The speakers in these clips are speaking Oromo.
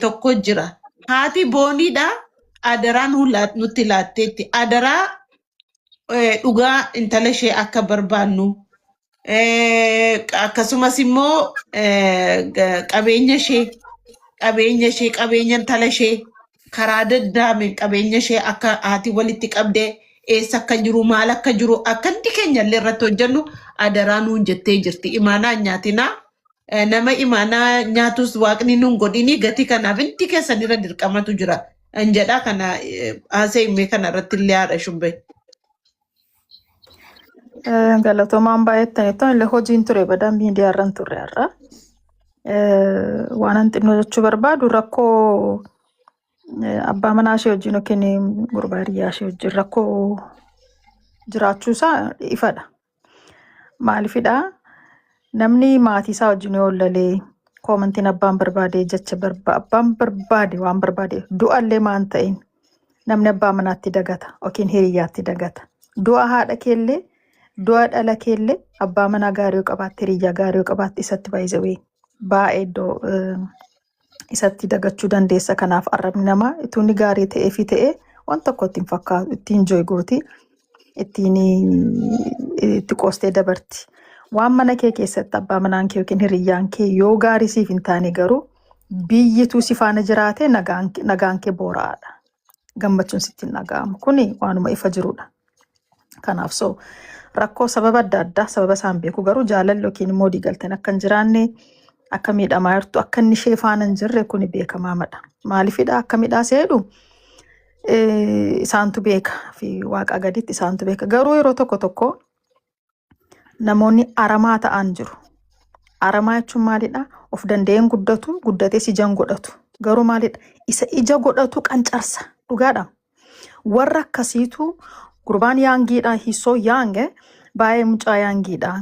tokko jira. Haati booniidha. Adaraa nuu laat- nutti laatteetti. Adaraa eh, dhugaa intala ishee akka barbaannu eh, akkasumas immoo eh, ga- qabeenya ishee qabeenya ishee qabeenya intala ishee karaa daddaameen qabeenya ishee akka haati walitti qabdee eessa akka jiru maal akka jiru akka hundi keenya illee irratti hojjennu adaraa nuun jettee jirti imaanaa hin nyaatinaa Eh, nama imaanaa nyaatus waaqni nun godhini gatii kanaaf hundi keessan irra dirqamatu jira an jedha kana eh, haasa'e mee kana irratti illee haadha shubbee. Eh, Galatomaan baay'attan ittoon illee hojiin ture badaa miidiyaa irran turre har'a. Eh, Waanan xinnoo jechuu barbaadu rakkoo eh, abbaa manaa ishee wajjin yookiin gurbaa hiriyaa ishee wajjin rakkoo jiraachuu isaa ifadha. Maalifidha namni maatii isaa wajjin yoo lalee koomantiin abbaan barbaade jecha barba abbaan barbaade waan barbaade du'allee maan ta'in namni abbaa manaatti dagata yookiin hiriyyaatti dagata du'a haadha keellee du'a dhala keellee abbaa manaa gaarii yoo qabaatte hiriyyaa gaarii yoo qabaatte isatti baay'isawee baay'ee iddoo eh, isatti dagachuu dandeessa. Kanaaf arrabni namaa ituu inni gaarii ta'ee fi ta'ee waan tokko ittiin fakkaatu ittiin jooy gooti ittiin itti qoostee dabarti. Waan mana kee keessatti abbaa manaan kee yookiin hiriyyaan kee yoo gaarii siif hin taane garuu biyyituu si faana jiraate nagaan nagaan kee boora'aadha. gammachuun sitti hin dhaga'amu. Kuni waanuma ifa jirudha. Kanaaf so rakkoo sababa adda addaa sababa isaan beeku garuu jaalalli yookiin immoo waliigalteen akka hin jiraanne akka miidhamaa jirtu akka inni ishee faana hin jirre kuni beekamaadha. Maaliifidha akka midhaa seedhu eh, isaantu beeka fi waaqaa gaditti isaantu beeka. Garuu yeroo tokko tokko namoonni aramaa ta'an jiru. Aramaa jechuun maalidha? Of danda'een guddatu, guddatees ijaan godhatu. Garuu maalidha? Isa ija godhatu qancarsa. Dhugaadha. Warra akkasiitu gurbaan yaangiidha, hisoo yaange, baay'ee mucaa yaangiidha.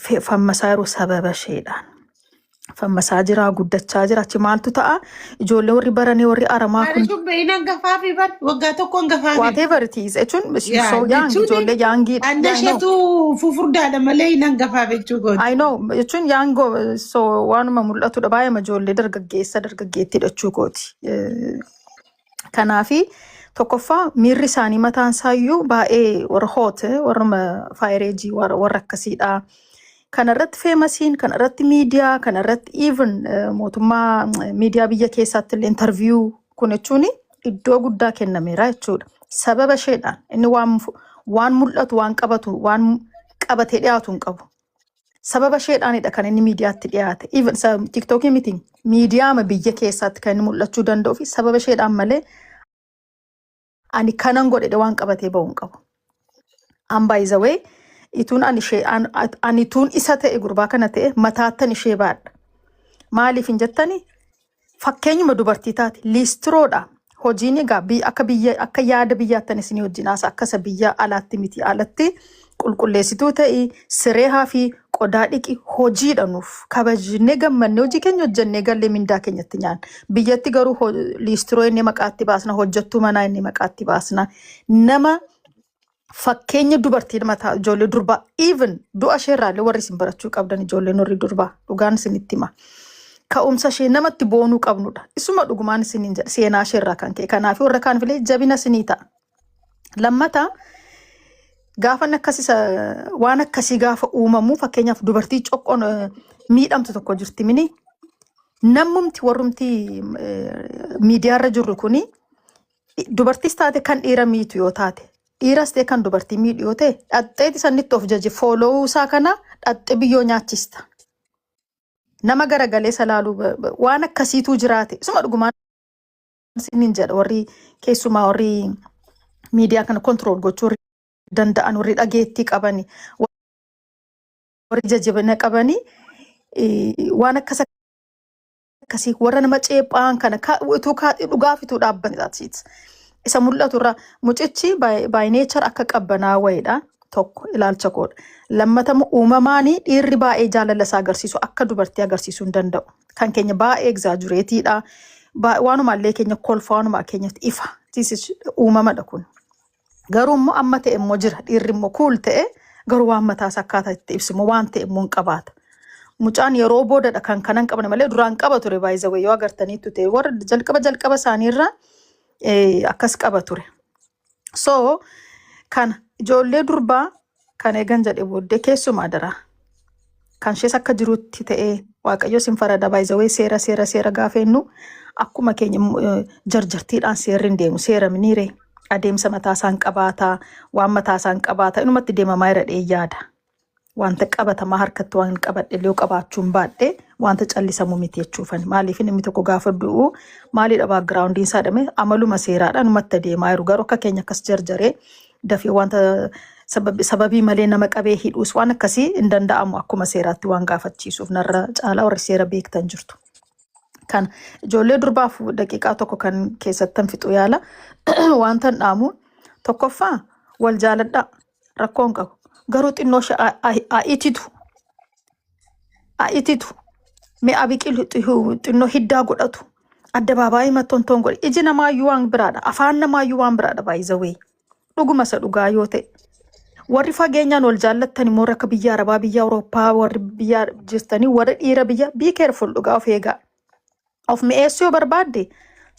Fe- Fammasaa yeroo sababa isheedhaan. fammasaa jira guddachaa jira achi maaltu ta'a ijoollee warri baranii warri aramaa Ani kun sun beeyin hangafaa fi bar waggaa tokko hangafaa fi. whatever it is jechuun she's Yaa so young jechuun ijoollee yaangii anna I know isheetu fufurdaadha malee hin hangafaa jechuu kooti. I know jechuun yaangoo so waanuma mul'atudha baay'eema ijoollee dargaggeessa dargaggeettiidha jechuu kooti. Eh, Kanaafi tokkoffaa miirri isaanii mataan isaayyuu baay'ee warra hoote warra faayireejii warra warra akkasiidha. Kana irratti feemasiin, kana irratti miidiyaa, kana irratti even mootummaa miidiyaa biyya keessaatti illee intarviyuu kun jechuun iddoo guddaa kennameera jechuudha. Sababa isheedhaan inni waan fu- waan mul'atu waan qabatu waan qabatee dhiyaatu hin qabu. Sababa isheedhaanidha kan inni miidiyaatti dhiyaate. Even sa- TikTokii miti miidiyaama biyya keessaatti kan inni mul'achuu danda'uu fi sababa isheedhaan malee ani kanan godhedhe waan qabatee ba'u hin qabu. An by the way ituun ani ishee an- at- ani ituun isa ta'e gurbaa kana ta'e mataattan ishee baadha. Maaliif hin jettani? Fakkeenyuma dubartii taate liistiroodha. Hojiin egaa bi- akka biyya akka yaada biyyaattan isinii wajjin haasa akka isa biyya alaatti miti alatti qulqulleessituu ta'i siree hafi qodaa dhiqi hojiidha nuuf kabajnee gammannee hojii keenya hojjennee gallee mindaa keenyatti nyaan biyyatti garuu ho- liistiroo inni maqaatti baasna hojjettuu manaa inni maqaatti baasna nama fakkeenya dubartiin mataa ijoollee durbaa even du'a ishee irraallee warri isin barachuu qabdan ijoolleen warri durbaa dhugaan isinitti hima. Ka'umsa ishee namatti boonuu qabnudha. Isuma dhugumaan isiniin jedha seenaa ishee irraa kan ka'e. Kanaaf warra kaanifilee jabina isinii ta'a. Lammata gaafan akkas isa waan akkasii gaafa uumamu fakkeenyaaf dubartii coqqoon eh, miidhamtu tokko jirti mini nammumti warrumti eh, miidiyaarra jirru kuni Dubartiis taate kan dhiira miitu yoo taate dhiiras ta'e kan dubartii miidhu yoo ta'e dhaxxeeti sannitti of jaje foolowuu isaa kana dhaxxe biyyoo nyaachista. Nama garagalee isa laaluu ba- ba- waan akkasiituu jiraate isuma dhugumaan isiniin jedha warri keessumaa warri miidiyaa kana kontirool gochuu danda'an warri dhageettii qabani warri jajjabina qabani eh, waan akkas akkasii warra nama ceephaan kana ka utuu kaa dhugaaf utuu dhaabbanne that's it. Isa mul'atu irraa mucichi by by nature akka qabbanaa wayiidha tokko ilaalcha koodha. Lammatamu uumamaanii dhiirri baay'ee jaalala isaa agarsiisu akka dubartii agarsiisuu hin danda'u. Kan keenya baay'ee egzaajureetiidha. Waanuma illee keenya kolfa waanuma keenyatti ifa. This is uumamadha kun. Garuu immoo amma ta'e immoo jira. Dhiirri immoo kuul ta'e garuu waan mataa isaa akkaataa itti ibsu immoo waan ta'e immoo hin qabaata. Mucaan yeroo boodadha kan kana hin qabne malee duraan qaba ture baay'isawee yoo agartaniittu ta'e warra jalqaba jalqaba isaaniirra eh, akkas qaba ture. So kana ijoollee durbaa Kan eegan jedhe booddee keessumaa adaraa kan ishees akka jirutti ta'ee waaqayyo sin farada baay'izawee seera seera seera gaafeennu akkuma keenya mm, eh, jarjartiidhaan seerri hin deemu seera miniire adeemsa mataa isaan qabaataa waan mataa isaan qabaataa inumatti deemamaa jira jedhee yaada wanta qabatamaa harkatti waan qabadhe illee yoo qabaachuu hin baadhe wanta callisamu miti jechuufan maaliif inni tokko gaafa du'u maalidha baagiraawundiin isaa dhame amaluma seeraadhaan umatta deemaa jiru garuu akka keenya akkas jarjaree dafee wanta sabab- sababii malee nama qabee hidhuus waan akkasii hin danda'amu akkuma seeraatti waan gaafachiisuuf narra caalaa warri seera beektan jirtu. Kana ijoollee durbaaf daqiiqaa tokko kan keessattan fixu yaala wantan dhaamu tokkoffaa wal jaaladhaa rakkoo hin qabu garuu xinnoo ishee haa- haa- haa ititu a- ititu mi'a biqilu xihu- xinnoo hiddaa godhatu addabaabaayii mattontoon godhe iji namaayyuu waan biraadha afaan namaayyuu waan biraadha baay'izawee dhuguma isa dhugaa yoo ta'e warri fageenyaan wal jaallattan immoo warra akka biyya arabaa biyya awurooppaa warri biyya jirtanii warri dhiira biyya be careful dhugaa of eegaa Of mi'eessuu yoo barbaadde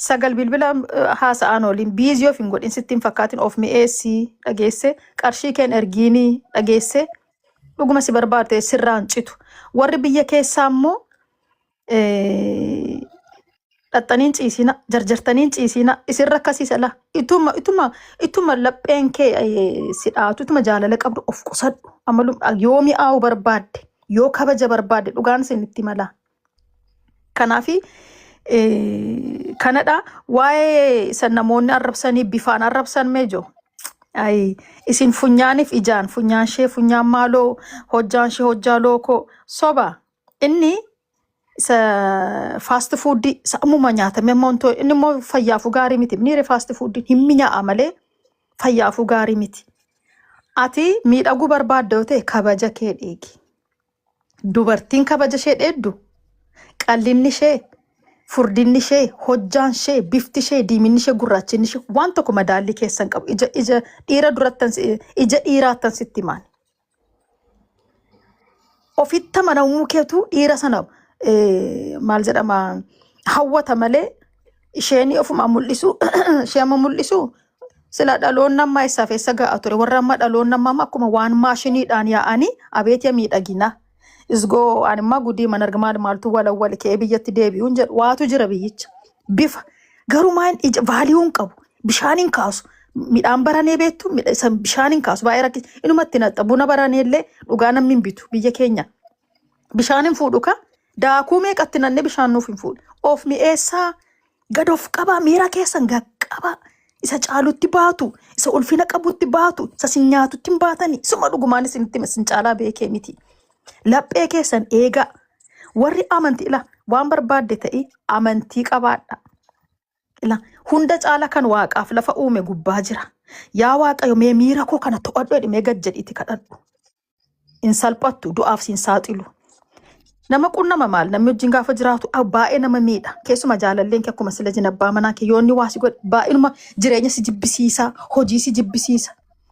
sagal bilbila eh, haasa'aan ooliin biizii of hin godhin sitti hin fakkaatin of mi'eessii dhageesse qarshii keen ergiinii dhageesse dhuguma si barbaadde sirraan citu. Warri biyya keessaa immoo eh, dhaxxaniin ciisiina jarjartaniin ciisiina isin rakkasiisa laa ituma ituma ituma lapheen kee eh, si dhaatu ituma jaalala qabdu of qusadhu amalum yoo mi'aawu barbaadde yoo kabaja barbaadde dhugaan isin itti malaa Kanaafi eh, kanadha waa'ee san namoonni arrabsanii bifaan arrabsan mee jo Ayi, isin funyaaniif ijaan funyaan ishee funyaan maaloo hojjaan ishee hojjaa lookoo soba inni isa faasti fuuddii isa ammuma nyaatame amma wanto inni immoo fayyaafuu gaarii miti inni faasti fuuddiin hin minyaa'a malee fayyaafuu gaarii miti ati miidhaguu barbaadda yoo ta'e kabaja kee dhiigi Dubartiin kabaja ishee dheeddu, qallinni ishee, furdinni ishee, hojjaan ishee, bifti ishee, diiminni ishee, gurraachinni ishee waan tokko madaallii keessa hin qabu. Ija ija dhiira durattan si- ija dhiiraattan sitti himaan. Ofitti amanamuu keetu dhiira sana eh, maal jedhama hawwata malee isheen ofumaan mul'isu ishee amma mul'isu Sila dhaloonni ammaa eessaaf eessa ga'a ture? Warra amma dhaloonni ammaa amma akkuma waan maashiniidhaan yaa'anii abeet ya miidhaginaa. Isgoo ani immaa gudii man arga maal maaltu walawwali ka'ee biyyatti deebi'uun jedhu waatu jira biyyicha. Bifa garuu maan ija vaaliyuu hin qabu. Bishaan hin kaasu. Midhaan baranee beektu midha- isa bishaan hin kaasu baay'ee rakkisa. Inumatti naxxa buna baranee illee dhugaa namni hin bitu biyya keenya. Bishaan hin fuudhu ka daakuu meeqatti nannee bishaan nuuf hin fuudhu. Of mi'eessaa Gad of qabaa, miira keessan gad qabaa. Isa caalutti baatu, isa ulfina qabutti baatu, isa sin nyaatutti hin baatani. Suma dhugumaan isinitti hima, sin caalaa beekee miti. Laphee keessan eegaa. Warri amantii ila waan barbaadde ta'e amantii qabaadha. Ila hunda caala kan waaqaaf lafa uume gubbaa jira. Yaa Waaqayyo mee miira koo kana to'adhu jedhi mee gad jedhiiti kadhadhu. hin salphattu du'aaf siin saaxilu. Nama qunnama maal namni wajjin gaafa jiraatu ah, baay'ee nama miidha. Keessuma jaalalleen kee akkuma sila jin abbaa manaa kee yoonni waa si godhe baay'inuma jireenya si jibbisiisa, hojii si jibbisiisa.